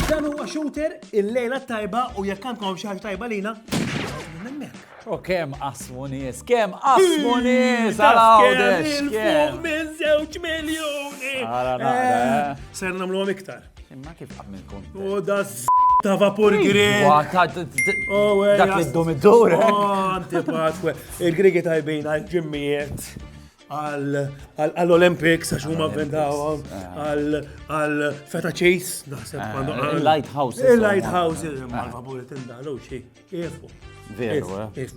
Dan huwa shooter il-lejla tajba u jekk għandkom xi ħaġa tajba lina. U kem asmu nis, kem asmu nis, għal-għawdex. Minn zewċ miljoni. Għala naqra. Ser namlu iktar. Imma kif għam il-kont? U oh, da ta' vapur grek. Oh, Dak li d-dum id-dur. Eh? Oh, Antipatwe. Il-Grigi tajbin għal ġimmijiet għall-Olympics, għax huma vendawhom, għal Feta Chase, naħseb. Ah, Il-Lighthouse. Il-Lighthouse, il-Malva Bulletin dalu xie. Veru, eh?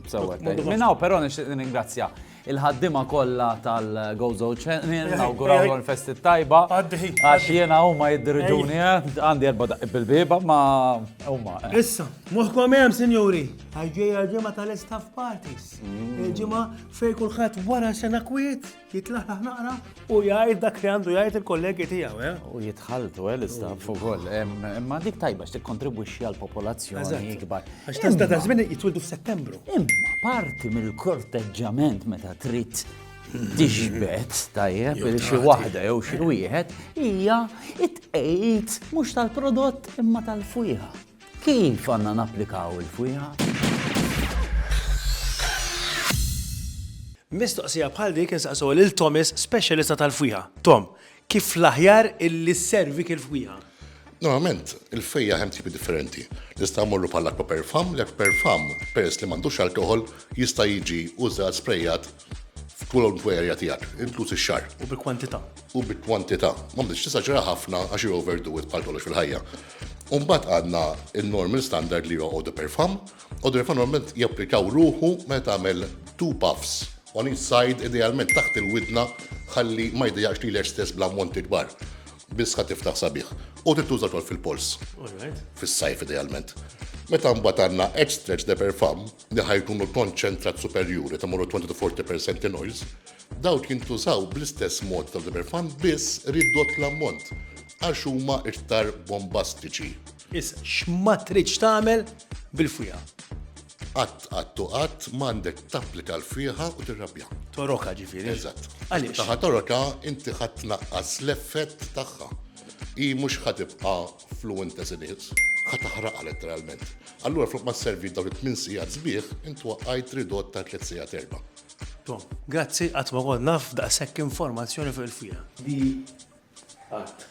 Minnaw, pero nixtieq ningrazzja il-ħaddima kollha tal-Gozo Channel, nawguraw l festi tajba. Għax jena huma jiddirġuni, eh? għandi erba daqib bil-biba, ma huma. Eh. Issa, moħkom hemm, sinjuri, għajġej għal-ġimgħa tal-istaff parties. Mm. Il-ġimgħa fej kulħadd wara sena kwiet. Jitlaħlaħ naqra u jgħid dak li għandu jgħid il-kollegi tiegħu, eh? U jitħaltu, eh, l-istaff ukoll. Imma dik tajba x'tikkontribwixxi għal popolazzjoni ikbar. Għax tista' ta' żmien jitwildu f'Settembru. Imma parti mill-korteġġament meta trid tixbet tajjeb il xi waħda jew xi wieħed hija it-tqejt mhux tal-prodott imma tal-fwieħa. Kif għandna napplikaw il-fwieħa? Mistoqsija bħal dik insaqsuha lil Thomas, speċjalista tal-fwieħa. Tom, kif l-aħjar illi sservik il-fwieħa? Normalment, il-fwieħa hemm tipi differenti. Nistgħu mmorru bħal aquaperfam, l-aquaperfam peress li m'għandux alkoħol jista' jiġi użat sprejat f'kwalunkwe area tiegħek, inkluż ix-xagħar. U bi kwantità. U bi kwantità. M'għandekx tesaġera ħafna għax you overdo it bħal kollox fil-ħajja. U mbagħad għandna n-normal standard li huwa Eau-de Perfum. Eau-de Perfum normalment japplikaw ruħu meta tagħmel two puffs on each side, idealment taħt il-widna ħalli ma jdejjaqx lilek stess bl-ammonti kbar. Biss ħa tiftaħ sabiħ. U trid tuża wkoll fil-polz. Alright. Fis-sajf idealment. Meta mbagħad għandna Edge Stretch de Perfum, li ħa jkunu l-konċentrat superjuri ta' moru 20 to 40 per cent in oils, dawk jintużaw bl-istess mod ta' l-Liber Fund biss ridott l-ammont għax huma iktar bombastiċi. Issa, x'ma tridx tagħmel bil-fwieħa? Qatt, qatt u qatt m'għandek tapplika l-fwieħa u tirrabbiha. Torokha ġifieri. Eżatt. Għaliex? Meta ħa torokha inti ħa tnaqqas l-effett tagħha. Hi mhux ħa tibqa' Fluent as in is, ħa taħraqha letteralment. Allura flok ma sservi dawn it-tmien sigħat sbieħ, int waqqajt ridott ta' tliet sigħat erba'. Tom, grazzi qatt ma kont naf daqshekk informazzjoni fuq il-fira. Di qatt.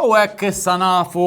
U hekk issa nafu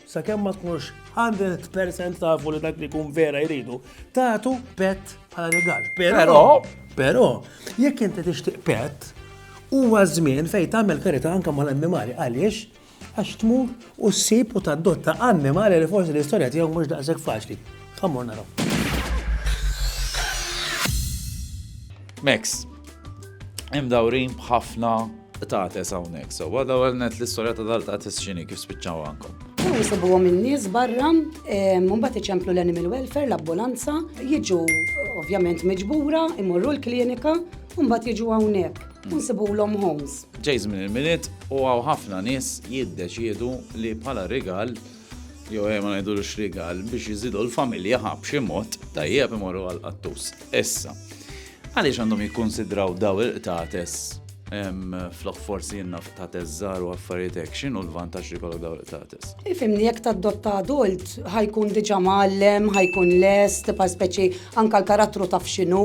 sakemm ma tkunux 100% tafu li dak li jkun vera jridu, tagħtu pet bħala rigal. Però, però, jekk inti tixtieq pet, huwa żmien fejn tagħmel karità anke mal-annimali għaliex għax tmur u ssib u tadotta annimali li forsi l-istorja tiegħu mhux daqshekk faċli. Ħammur naraw. Max, imdawrin b'ħafna tates hawnhekk. So, għadha għal net l-istorja ta' dal-tates xini kif spiċċaw għankom. Jisibu għom il-nis barra, mumbat iċemplu l-animal welfare, l-ambulanza, jiġu ovvjament miġbura, imorru l-klinika, mumbat jiġu għawnek, nsibu l-om homes. Ġejz minn il-minit u għaw ħafna nis jiddeċiedu li bħala rigal jew ejja ma ngħidulux rigal, biex iżidu l-familja ħa b'xi mod tajjeb imorru għall-qattus. Issa, għaliex għandhom jikkunsidraw daw il-qtates flok forsi jenna ta' teżżar u affarijiet hekk x'inhu l-vantaġġ li kollok daw il-qtates. Ifimni jekk tadotta adult ħajkun diġà mgħallem, ħajkun lest, pa' speċi anka l-karattru taf x'inhu,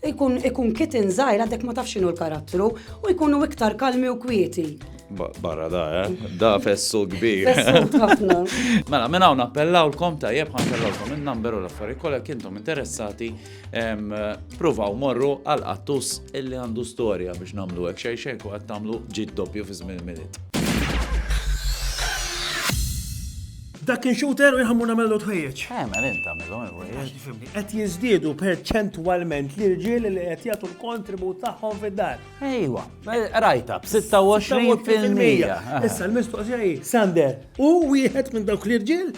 ikun ikun kitin żgħir għadek ma taf x'inhu l-karattru u jkunu iktar kalmi u kwieti. Barra da, eh? Da fessu kbir. Fessu ħafna. Mela, minn hawn appellawlkom tajjeb ħankellawkom in-number u l-affarijiet kollha kintom interessati provaw morru għal qattus illi għandu storja biex nagħmlu hekk xejn xejn ku qed tagħmlu ġid doppju fi żmien minit. Dak kien xooter u jħammu namellu tħejjeċ. Eh, ma l-int għamillu, Qed jizdiedu perċentwalment li rġiel li qed jagħtu l-kontribut tagħhom fid-dar. Ejwa, rajta, b-26 fil-mija. Issa l-mistoqsija hi, Sander, u wieħed minn dawk l-irġiel?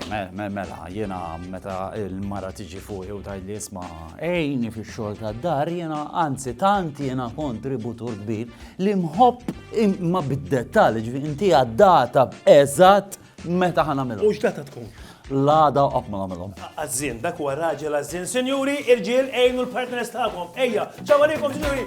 Mela, jena meta il-mara tiġi fuq u tajt li jisma ejni fi xol ta' dar, jena anzi tant jena kontributur kbir li mħobb ma bid-dettali ġvi inti għaddata eżat Meta ħan għamilhom? U x'data tkun? L-għada u qatt ma nagħmilhom. Għażżin, dak huwa raġel għażżin. Sinjuri, irġiel għejnu l-partners tagħkom. Ejja, ċaw għalikom, sinjuri!